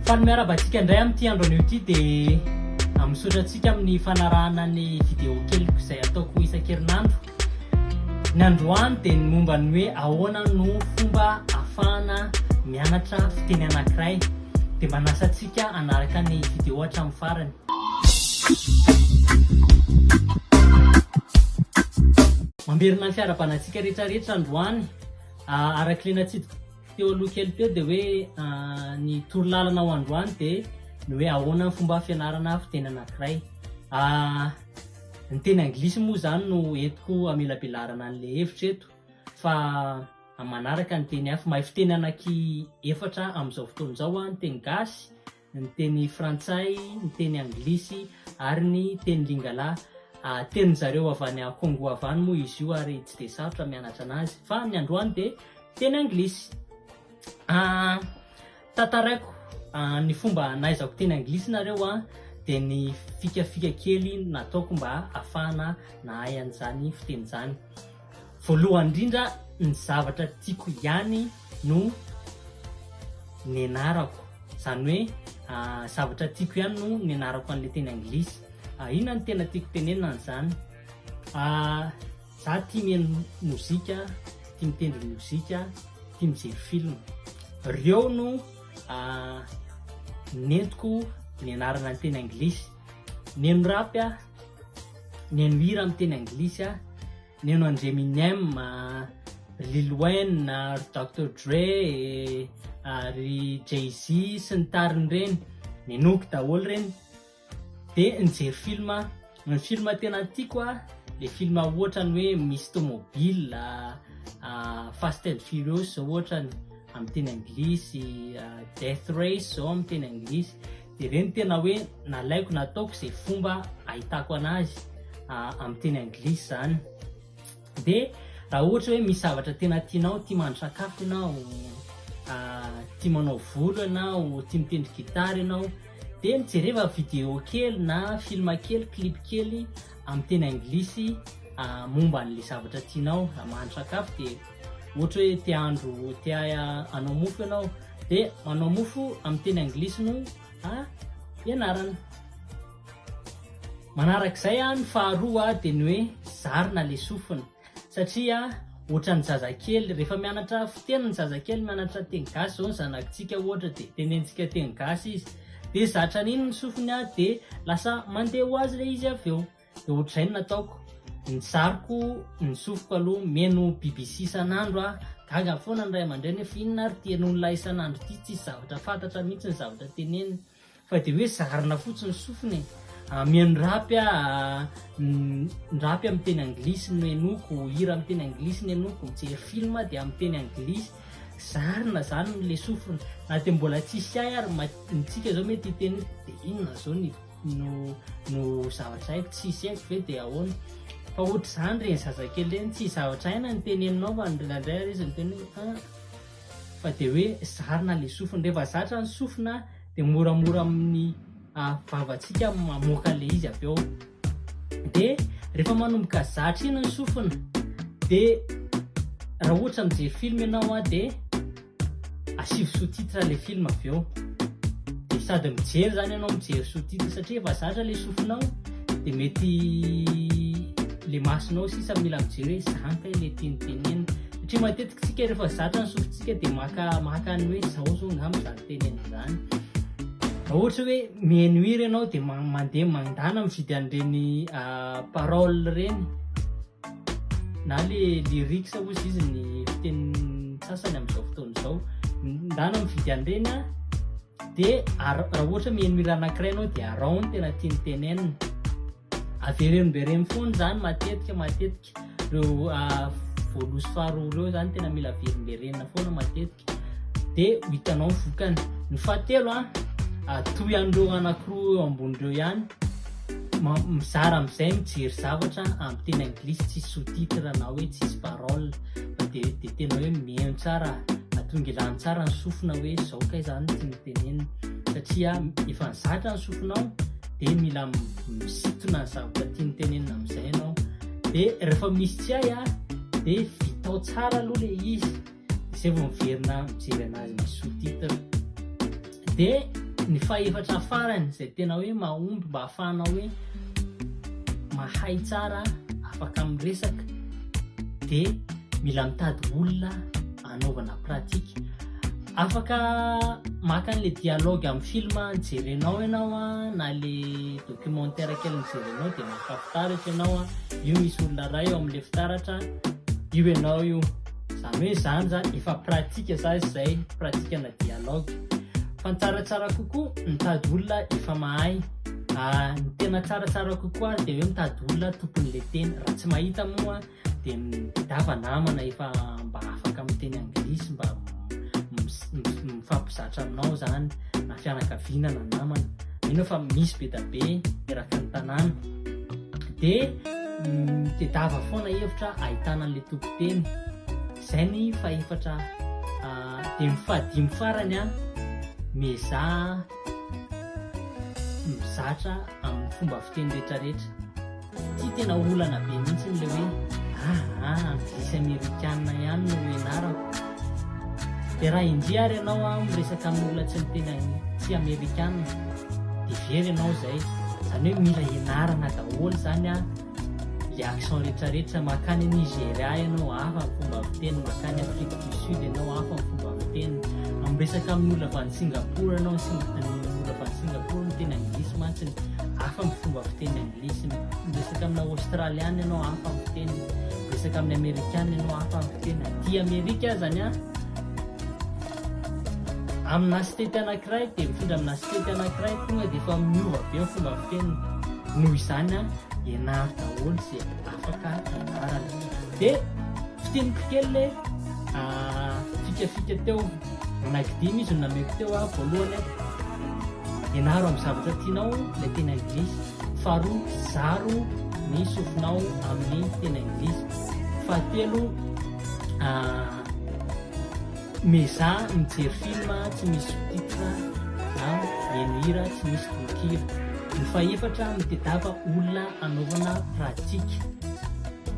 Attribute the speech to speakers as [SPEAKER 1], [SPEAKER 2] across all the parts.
[SPEAKER 1] Faly miarahaba antsika indray amin'ity andro anio ity dia misaotra antsika amin'ny fanarahana ny vidéo keliko izay ataoko isan-kerinandro. Ny androany dia ny momba ny hoe ahoana no fomba afahana mianatra fiteny anankiray. Dia manasa antsika hanaraka ny vidéo hatramin'ny farany. Mamberina ny fiarahabana antsika rehetra rehetra androany. Arak'ilay natsidiko Teo aloha kely teo dia hoe ny torolalana ho androany dia ny hoe ahoana ny fomba fianarana fiteny anankiray. Ny teny anglisy moa izany no entiko amelabelarana an'ilay hevitra eto fa amin'ny manaraka ny teny hafa. Mahay fiteny ananky efatra amin'izao fotoana izao aho, ny teny gasy, ny teny frantsay, ny teny anglisy ary ny teny lingala. Tenin-dry zareo avy any Kongo avy any moa izy io ary tsy dia sarotra mianatra anazy fa ny androany dia teny anglisy. Tantaraiko ny fomba nahaizako teny anglisy nareo a, dia ny fikafika kely nataoko mba hahafahana nahay an'izany fiteny izany. Voalohany indrindra ny zavatra tiako ihany no nianarako, izany hoe zavatra tiako ihany no nianarako an'ilay teny anglisy. Inona no tena tiako tenenina an'izany? Za tia mihaino mozika, tia mitendry mozika, tia mijery film. Ireo no nentiko nianarana ny teny anglisy. Mihaino rap aho. Nihaino hira amin'ny teny anglisy aho, nihaino an-dry Eminem, Lil Wayne, ry Doctor Dre, ry Jay-Z sy ny tariny ireny. Ninoako daholo ireny. Dia nijery film aho. Ny film tena tiako aho, ilay film ohatran'ny hoe misy tômôbila, Fast and Furious izao ohatrany. amin'ny teny anglisy death race zao amin'ny teny anglisy dia ireny tena hoe nalaiko nataoko izay fomba ahitako anazy amin'ny teny anglisy zany dia raha ohatra hoe misy zavatra tena tianao tia mandry sakafo ianao tia manao volo ianao tia mitendry gitara ianao dia mijereva video kely na film kely clip kely amin'ny teny anglisy momba an'le zavatra tianao mandry sakafo dia Ohatra hoe te handro, te hanao mofo ianao, dia manao mofo amin'ny teny anglisy no ianarana. Manarak'izay ny faharoa dia ny hoe zarina le sofina satria ohatran'ny zazakely rehefa mianatra fiteny ny zazakely mianatra teny gasy zao ny zanakintsika ohatra dia tenentsika teny gasy izy dia zatra an'iny ny sofiny dia lasa mandeha ho azy le izy avy eo. Dia ohatr'izay no nataoko. Nizariko ny sofiko aloha, mihaino BBC isan'andro aho. Gaga foana ny ray aman-dreny hoe fa inona ary ity henoin'ilay isan'andro ity, tsisy zavatra fantatra mihitsy ny zavatra teneniny. Fa dia hoe zarina fotsiny ny sofiny e. Ah, mihaino rapy aho, ah, ny rapy amin'ny teny anglisy no henoiko, hira amin'ny teny anglisy no henoiko, mijery film aho dia amin'ny teny anglisy. Zarina izany ilay sofina. Na dia mbola tsisy ahy ary ma- mitsika izao mety hiteny hoe dia inona izao ny no no zavatra haiko tsisy haiko ve dia ahoana fa ohatr'izany reny zazakely reny tsy zavatra haina ny teneninao fa ndraindray ary izy miteny hoe ah fa dia hoe zarina le sofiny rehefa zatra ny sofina dia moramora amin'ny ah, vavantsika mamoaka le izy avy eo dia rehefa manomboka zatra iny ny sofina dia raha ohatra mijery film ianao ah dia Asivo sous-titre le film avy eo de sady mijery zany ianao mijery sous-titre satria efa zatra le sofinao de mety le masonao sisa mila mijery hoe zany kay le tiany tenenina satria matetika tsika rehefa zatra ny sofintsika de maka maka ny hoe zao zao ngamba zany tenenina zany ohatra hoe menuire ianao de mandeha mandana mividy an'ireny ah, parole ireny na le lyrics ozy izy ny fitenin'ny sasany amin'izao fotoana izao ndana mividy an'ireny a de raha ohatra miheno mira anankiray anao de arao ny tena tiany tenenina avereno mbe reny foana zany matetika matetika reo ah, voalosy faharoa reo zany tena mila avereno mbe renina foana matetika dia ho hitanao ny vokany ny fahatelo a atoy an'ireo anankiroa eo ambony ireo ihany mizara amin'izay mijery zavatra amin'ny teny anglisy tsisy sous-titre na hoe tsisy parole dia dia tena hoe mihaino tsara atongilany tsara ny sofina hoe zao kay zany tsy mitenenina satria efa nizatra ny sofinao dia mila misitona ny zavatra tiany tenenina amin'izay ianao dia rehefa misy tsy hay a dia vitao tsara aloha le izy izay vao miverina mijery anazy ny sous titre de ny fahefatra farany izay tena hoe mahomby mba hafahana hoe mahay tsara afaka miresaka de mila mitady olona anaovana pratique afaka maka an'le dialogue amin'ny film jerenao ianao a na le documentaire kely mijerenao de maka fitaratra ianao a io misy olona ray eo amin'le fitaratra io ianao io Zany hoe izany zany efa pratique za izay, pratique ana dialogue. Fa ny tsaratsara kokoa mitady olona efa mahay. Ah, ny tena tsaratsara kokoa ary dia hoe mitady olona tompon'ilay teny. Raha tsy mahita moa dia midava namana efa mba afaka miteny anglisy mba mifampizatra aminao zany na fianakaviana na namana. Mino aho fa misy be dia be eraky ny tanàna. dia mitedava foana hevitra ahitana an'ilay tompon-teny izay ny fahefatra ah, dia ny fahadimy farany a ah, miezaha mizatra amin'ny fomba fiteny rehetrarehetra ty tena olana be mihitsy n'ilay hoe aa ah, ah, ny zisy amerikana ihany no enarako Dia raha indria ary ianao an miresaka amin'ny olona tsy miteny tsy amerikana dia very ianao izay. Izany hoe mila hianarana daholo izany an le accent retraretra, makany Nigeria ianao hafa ny fomba miteny, makany Afrique du Sud ianao hafa ny fomba miteny, miresaka amin'ny olona avy any Singapour ianao, ny olona avy any Singapour miteny anglisy mantsy, hafa ny fomba fiteny anglisy. Lisy, Miresaka amina Aostraliana ianao hafa ny fiteny, miresaka amin'ny Amerikana ianao hafa ny fiteny, aty Amerika azany an! Amina state anankiray dia mifindra amina state anankiray tonga dia efa miova be ny fomba fiteniny. Noho izany an, ianaro daholo izay afaka ianarana. Dia fiteniko kely le fikafika teo. Like dimy izy no nameko teo a, voalohany a, ianaro amin'ny zavatra tianao ilay teny anglisy, faharoa zaro ny sofinao amin'ny teny anglisy, fahatelo mezaha mijery film tsy misy sous-titre na mihaino hira tsy misy tononkira, ny fahefatra mitedava olona hanaovana pratique,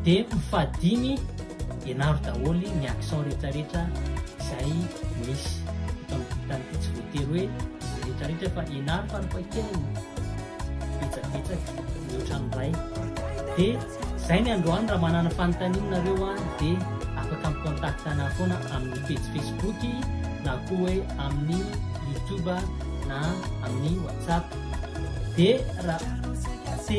[SPEAKER 1] dia ny fahadimy Ianaro daholo ny accent rehetra rehetra izay misy eto amin'ny dictany ity, tsy voatery hoe izay rehetra rehetra fa ianaro farafahakeliny betsabetsaka mihoatra ny iray. Dia izay ny androany raha manana fanontaniana nareo a dia afaka mi-contact anah foana amin'ny pejy Facebook na koa hoe amin'ny YouTube na amin'ny WhatsApp. Dia raha te